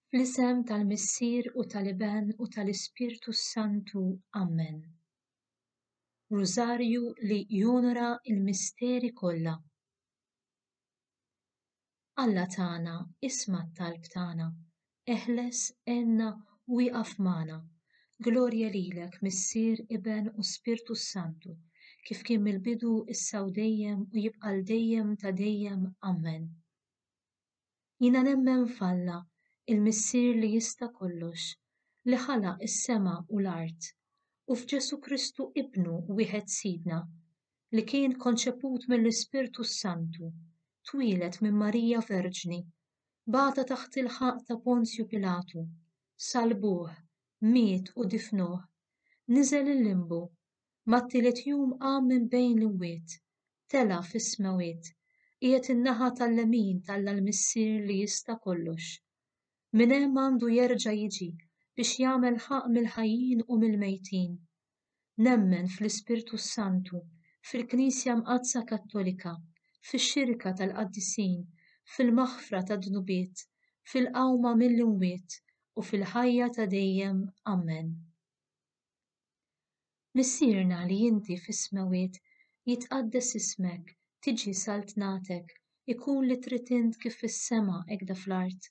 Fl-isem tal-Missier u tal-Iben u tal-Ispirtu s-Santu, Ammen. Rużarju li jonora l-misteri kollha. Alla tagħna isma' t-talb tagħna eħles, għenna u ieqaf magħna. Glorja lilek, Missier, Iben u Spirtu s-Santu, kif kien mill-bidu, issa u dejjem u jibqa' għal dejjem ta' dejjem. Ammen. Jiena nemmen f'Alla, il-Missier li jista' kollox, li ħalaq is-sema u l-art, u f'Ġesù Kristu Ibnu wieħed Sidna, li kien konċeput mill-Ispirtu s-Santu, twieled minn Marija Verġni, bagħatha taħt il-ħaqq ta' Ponzju Pilatu, salbuh, miet u difnuh, niżel il-limbu, mat-tielet jum qam minn bejn l-imwiet, tela' fis-smewwiet, qiegħed in-naħa tal-lemin t'Alla l-Missier li jista' kollox. Minn hemm għandu jerġa' jiġi biex jagħmel ħaqq mill-ħajjin u mill-mejtin. Nemmen fl-Ispirtu s-Santu, fil-Knisja Mqaddsa Kattolika, fix-xirka tal-qaddisin, fil-maħfra tad-dnubiet, fil-qawma mill-imwiet u fil-ħajja ta' dejjem. Ammen. Missierna li inti fis-smewwiet, jitqaddes ismek, tiġi saltnatek, ikun li trid int kif fis-sema hekk da fl-art.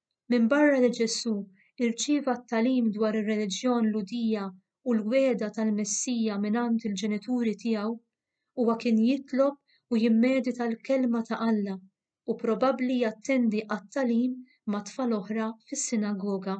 Minbarra li Ġesù rċieva t-tagħlim dwar ir-reliġjon Lhudija u l-wegħda tal-Messija mingħand il-ġenituri tiegħu, huwa kien jitlob u jimmedita l-Kelma ta' Alla u probabbli jattendi għat-tagħlim ma' tfal oħra fis-sinagoga.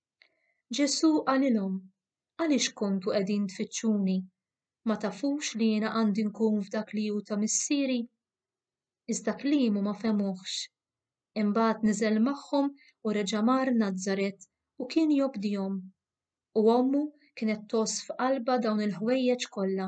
Ġesù qalilhom, Għaliex kontu qegħdin tfittxuni? Ma tafux li jiena għandi nkun f'dak li hu ta' Missieri? Iżda kliemu ma fehmuhx. Imbagħad niżel magħhom u reġa' mar Nazaret u kien jobdihom. U ommu kienet tgħożż f'qalbha dawn il-ħwejjeġ kollha.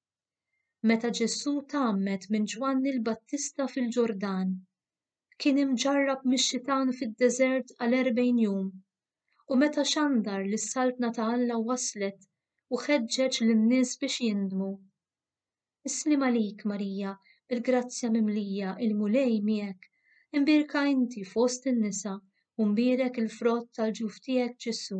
Meta Ġesù tgħammed minn Ġwanni l-Battista fil-Ġordan, kien imġarrab mix-xitan fid-deżert għal erbgħin jum, u meta xandar li s-saltna ta' Alla waslet u ħeġġeġ lin-nies biex jindmu. Isliem għalik Marija, bil-grazzja mimlija, il-Mulej miegħek, imbierka inti fost in-nisa u mbierek il-frott tal-ġuf tiegħek Ġesù.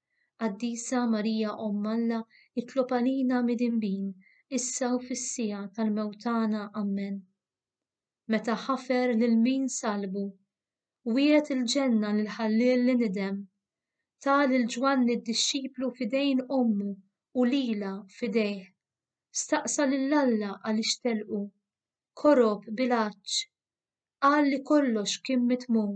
Qaddisa Marija Omm Alla itlob għalina midinbin issa u fis-siegħa tal-mewt tagħna. Ammen. Meta ħafer lil min salbu, wiegħed il-ġenna lil ħalliel li nidem. Ta lil Ġwanni d-dixxiplu f'idejn ommu u lilha f'idejh. Staqsa lil Alla għaliex telqu. Korob bil-għatx. Qal li kollox kien mitmum.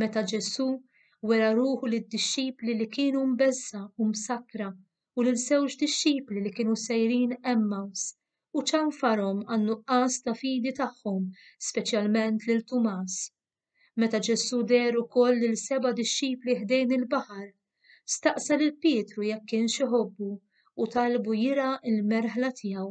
Meta Ġesù wera ruħu lid-dixxipli li kienu mbeżża u msakkra u lil żewġ dixxipli li kienu sejrin Emmaus u ċanfarhom għan-nuqqas ta' fidi tagħhom, speċjalment lil Tumas. Meta Ġesù deher ukoll lil seba' dixxipli ħdejn il-baħar, staqsa lil Pietru jekk kienx iħobbu u talbu jirgħa l-merħla tiegħu.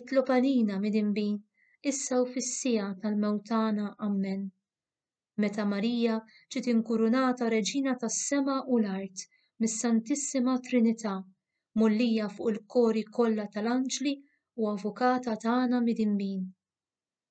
Itlob għalina midinbi issa u fis-siegħa tal-mewt tagħna. Ammen. Meta Marija ġiet inkurunata Reġina tas-sema u l-art mis-Santissima Trinità, mgħollija fuq il-kori kollha tal-anġli u Avukata tagħna midinbin.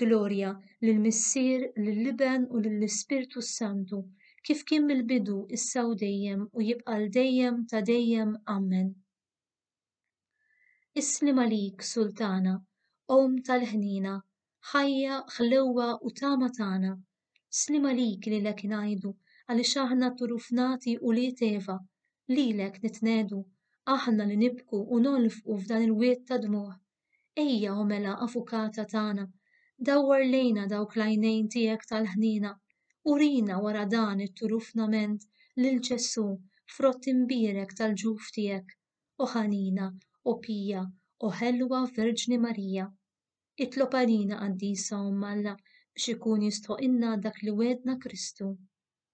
Glorja lill-Missier, lill-Iben u lill-Ispirtu s-Santu, kif kien mill-bidu, issa u dejjem, u jibqa' għal dejjem ta' dejjem. Ammen. Isliem għalik, Sultana, Omm tal-ħniena, ħajja, ħlewwa u tama tagħna. Sliem għalik lilek ngħidu, għaliex aħna t-turufnati ulied Eva, lilek nitnegħdu, aħna li nibku u nolfqu f'dan il-wied ta' dmugħ, Ejja, o mela, Avukata tagħna, dawwar lejna dawk l-għajnejn tiegħek tal-ħniena, urina wara dan it-turufnament lil Ġesù, frott imbierek tal-ġuf tiegħek, o ħanina, o pija, o ħelwa Verġni Marija. Itlob għalina Qaddisa Omm Alla biex ikun jistħoqilna dak li wegħdna Kristu.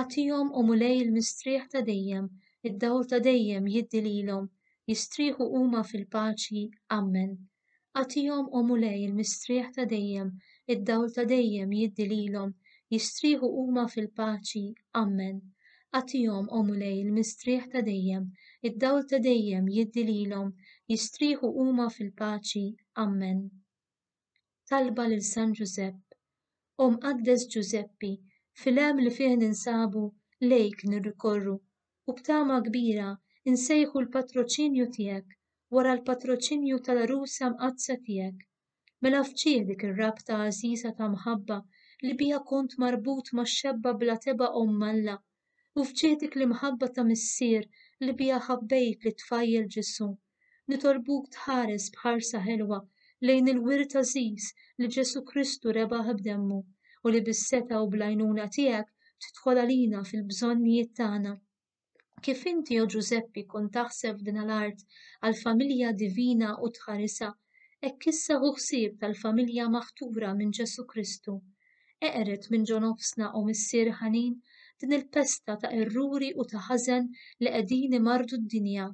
Agħtihom, O Mulej il-mistrieħ ta' dejjem, id-dawl ta' dejjem jiddi lilhom, jistrieħu huma fil-paċi. Ammen. Agħtihom, O Mulej il-mistrieħ ta' dejjem, id-dawl ta' dejjem jiddi lilhom, jistrieħu huma fil-paċi. Ammen. Agħtihom, O Mulej il-mistrieħ ta' dejjem, id-dawl ta' dejjem jiddi lilhom, jistrieħu huma fil-paċi. Ammen. talba lil San Ġużepp, O Mqaddes Ġużeppi, fil-hemm li fih ninsabu lejk nirrikorru u b'tama kbira nsejħu l-patroċinju tiegħek wara l-patroċinju tal-Għrusa Mqaddsa tiegħek. Mela fġieħ dik ir-rabta għażiża ta' mħabba li biha kont marbut max-xebba bla tebgħa Omm Alla, u f'ġieħdek l-imħabba ta' Missier li biha ħabbejt lit-tfajjel Ġesù, nitolbuk tħares b'ħarsa ħelwa lejn il-wirt għażiż li Ġesù Kristu rebaħ b'demmu u li bis-setgħa u bl-għajnuna tiegħek tidħol għalina fil-bżonnijiet tagħna. Kif inti, o Ġużeppi, kont taħseb f'din l-art għall-familja divina u tħarisha, hekk issa hu ħsieb tal-familja maħtura minn Ġesù Kristu. Eqred minn ġo nofsna, o Missier ħanin, din il-pesta ta' erruri u ta' ħażen li qegħdin imarrdu d-dinja.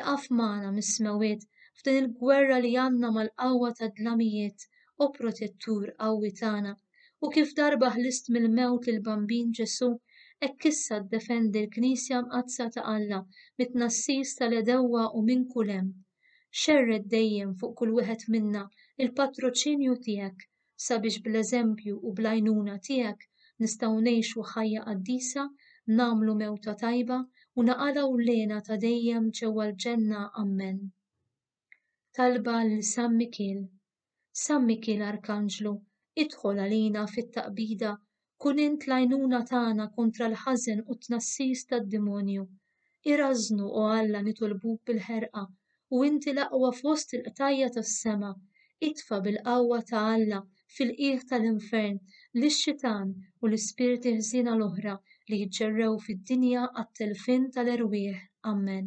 Iqaf magħna mis-smewwiet f'din il-gwerra li għandna mal-qawwa tad-dlamijiet, o Protettur qawwi tagħna, u kif darba ħlist mill-mewt lill-Bambin Ġesù, hekk issa ddefendi l-Knisja Mqaddsa ta' Alla mit-tnassis tal-għedewwa u minn kull hemm. Xerred dejjem fuq kull wieħed minna l-patroċinju tiegħek sabiex bl-eżempju u bl-għajnuna tiegħek nistgħu ngħixu ħajja qaddisa, nagħmlu mewta tajba u naqalgħu l-hena ta' dejjem ġewwa l-ġenna Ammen. Talba lil San Mikiel San Mikiel Arkanġlu, idħol għalina fit-taqbida, kun int l-għajnuna tagħna kontra l-ħażen u t-tnassis tad-dimonju. Irażżnu, o Alla, nitolbuk bil-ħerqa, u inti l-aqwa fost il-qtajja' tas-sema, itfa' bil-qawwa ta' Alla fil-qiegħ tal-infern lix-xitan u l-ispirti ħżiena l-oħra li jġerrew fid-dinja għat-telfien tal-erwieħ. Amen.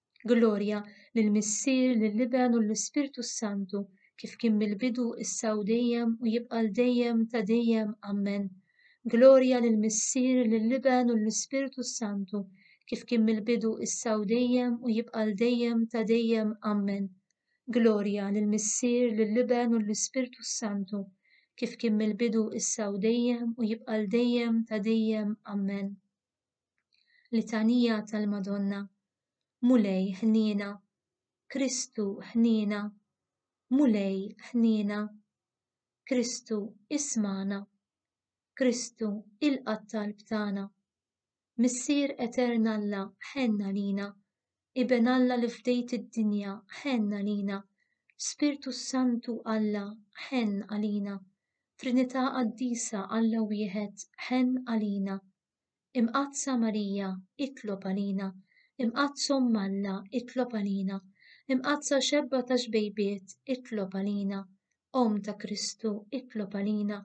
Glorja lill-Missier, lill-Iben u lill-Ispirtu s-Santu, kif kien mill-bidu, issa u dejjem, u jibqa' għal dejjem ta' dejjem. Ammen. Glorja lill-Missier, lill-Iben u lill-Ispirtu s-Santu, kif kien mill-bidu, issa u dejjem, u jibqa' għal dejjem ta' dejjem. Ammen. Glorja lill-Missier, lill-Iben u lill-Ispirtu s-Santu, kif kien mill-bidu, issa u dejjem, u jibqa' għal dejjem ta' dejjem. Ammen. Litanija tal-Madonna, Mulej ħniena, Kristu ħniena, Mulej ħniena, Kristu ismana, Kristu ilqa' talb tagħna. Missier Etern Alla ħenna lina, Iben Alla li fdejt id-dinja ħenna lina, Spirtu Santu Alla ħenn għalina, Trinità Qaddisa Alla wieħed ħenn għalina. Imqaddsa Marija, itlob għalina. Imqaddsa Omm Alla, itlob għalina. Imqaddsa Xebba ta' Xbejbiet, itlob għalina. Omm ta' Kristu, itlob għalina.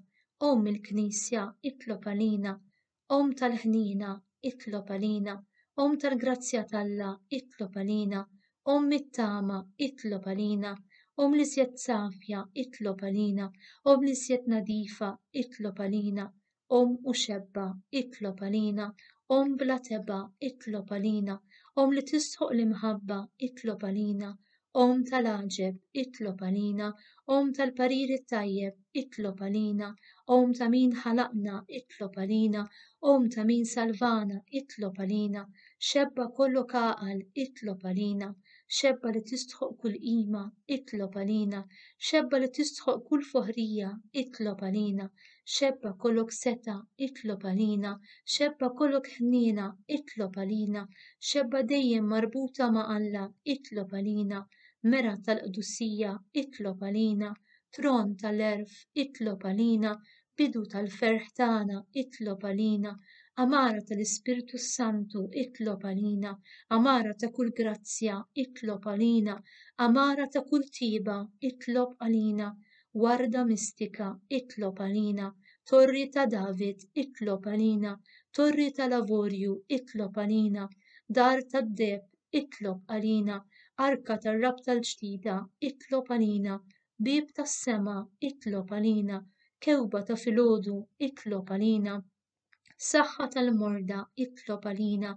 Omm il-Knisja, itlob għalina. Omm tal-ħniena, itlob għalina. Omm tal-grazzja t'Alla, itlob għalina. Omm it-tama, itlob għalina. Omm li sjet safja, itlob għalina. Omm li sjet nadifa, itlob għalina. Omm u xebba, itlob għalina, Omm bla tebgħa, itlob għalina, Omm li tistħoq l-imħabba, itlob għalina, Omm tal-għaġeb, itlob għalina, Omm tal-parir it-tajjeb, itlob għalina, Omm ta' min ħalaqna, itlob għalina, Omm ta' min salvana, itlob għalina, Xebba kollok għaqal, itlob għalina, Xebba li tistħoq kull qima, itlob għalina, Xebba li tistħoq kull foħrija, itlob għalina, xebba kolok seta itlob għalina, xebba kolok ħnina itlob għalina, xebba dejjem marbuta ma' Alla itlob għalina, mera tal-qdusija itlob għalina, tron tal-erf itlob għalina, bidu tal-ferħ tagħna itlob għalina, amara tal-Ispirtu Santu itlob għalina, amara ta' kull grazzja itlob għalina, amara ta' kull tiba itlob għalina, warda mistika itlob għalina, torri ta' David itlob għalina, torri tal-avorju itlob għalina, dar tad-deheb itlob għalina, arka tar-rabta l-ġdida itlob għalina, bieb tas-sema itlob għalina, kewba ta' filgħodu itlob għalina. Saħħa tal-morda itlob għalina,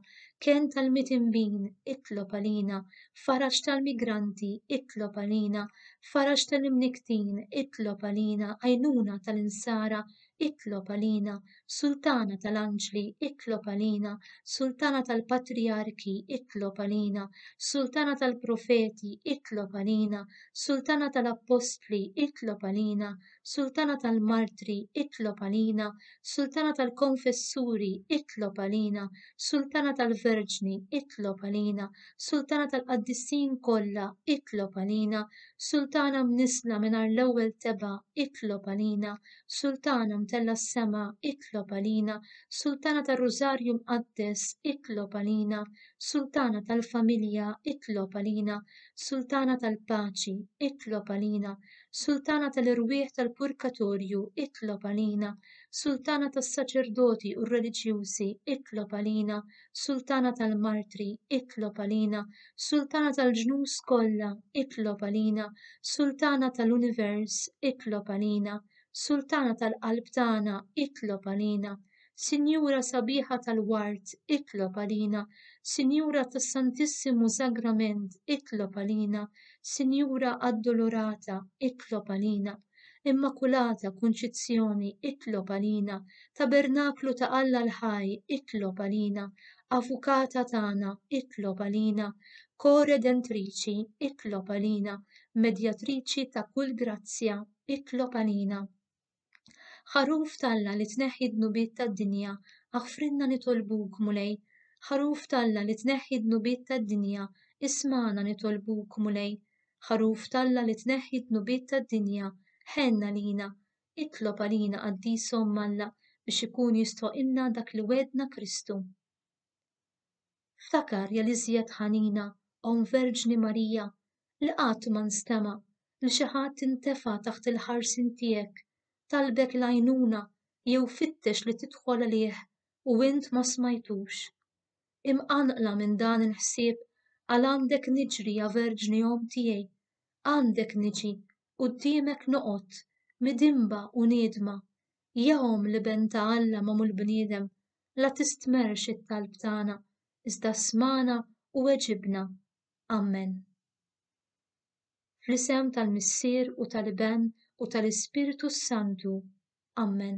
ken tal-mitimbin itlob għalina, faraġ tal-migranti itlob għalina, faraġ tal-imniktin itlob għalina, għajnuna tal-insara itlob għalina, sultana tal-anġli itlob għalina, sultana tal-patrijarki itlob għalina, sultana tal-profeti itlob għalina, sultana tal-appostli itlob għalina, Sultana tal-Martri, itlob għalina, Sultana tal-Konfessuri, itlob għalina, Sultana tal-Verġni, itlob għalina, Sultana tal-Qaddisin kollha, itlob għalina, Sultana mnisla mingħajr l-ewwel tebgħa, itlob għalina, Sultana mtella s-sema, itlob għalina, Sultana tar-Rużarju Mqaddes, itlob għalina, Sultana tal-Familja, itlob għalina, Sultana tal-Paċi, itlob għalina, Sultana tal-irwieħ tal-purkatorju, itlob għalina. Sultana tas-saċerdoti u r-reliġjużi, itlob għalina. Sultana tal-martri, itlob għalina. Sultana tal-ġnus kollha, itlob għalina. Sultana tal-univers, itlob għalina. Sultana tal-qalb tagħna, itlob għalina. Sinjura sabiħa tal-ward, itlob għalina, Sinjura tas-Santissimu Sagrament, itlob għalina, Sinjura Addolorata, itlob għalina, Immakulata Kunċizzjoni, itlob għalina, Tabernaklu ta' Alla l-Ħaj, itlob għalina, Avukata tagħna, itlob għalina, Koredentriċi, itlob għalina, Medjatriċi ta' kull grazzja, itlob għalina. Ħaruf t'Alla li tneħħi d-dnubiet tad-dinja, aħfrilna nitolbuk, Mulej. Ħaruf t'Alla li tneħħi d-dnubiet tad-dinja, ismagħna nitolbuk, Mulej. Ħaruf t'Alla li tneħħi d-dnubiet tad-dinja, ħenn għalina. Itlob għalina Qaddisa Omm Alla biex ikun jistħoqilna dak li wegħdna Kristu. Ftakar jel iżjed ħanina Omm Verġni Marija li qatt ma nstema' li xi ħadd intefa' taħt il-ħarsien tiegħek, talbek l-għajnuna jew fittex li tidħol għalih u int ma smajtux. Imqanqla minn dan il-ħsieb għal għandek niġri ja Verġni Omm tiegħi, għandek niġi, quddiemek noqgħod, midinba u niedma, Jahom l-Iben ta' Alla magħmul bniedem, la tistmerrx it-talb tagħna, iżda smana u weġibna. Amen. Fl-isem tal-Missier u tal-Iben u tal-Ispirtu s-Santu. Amen.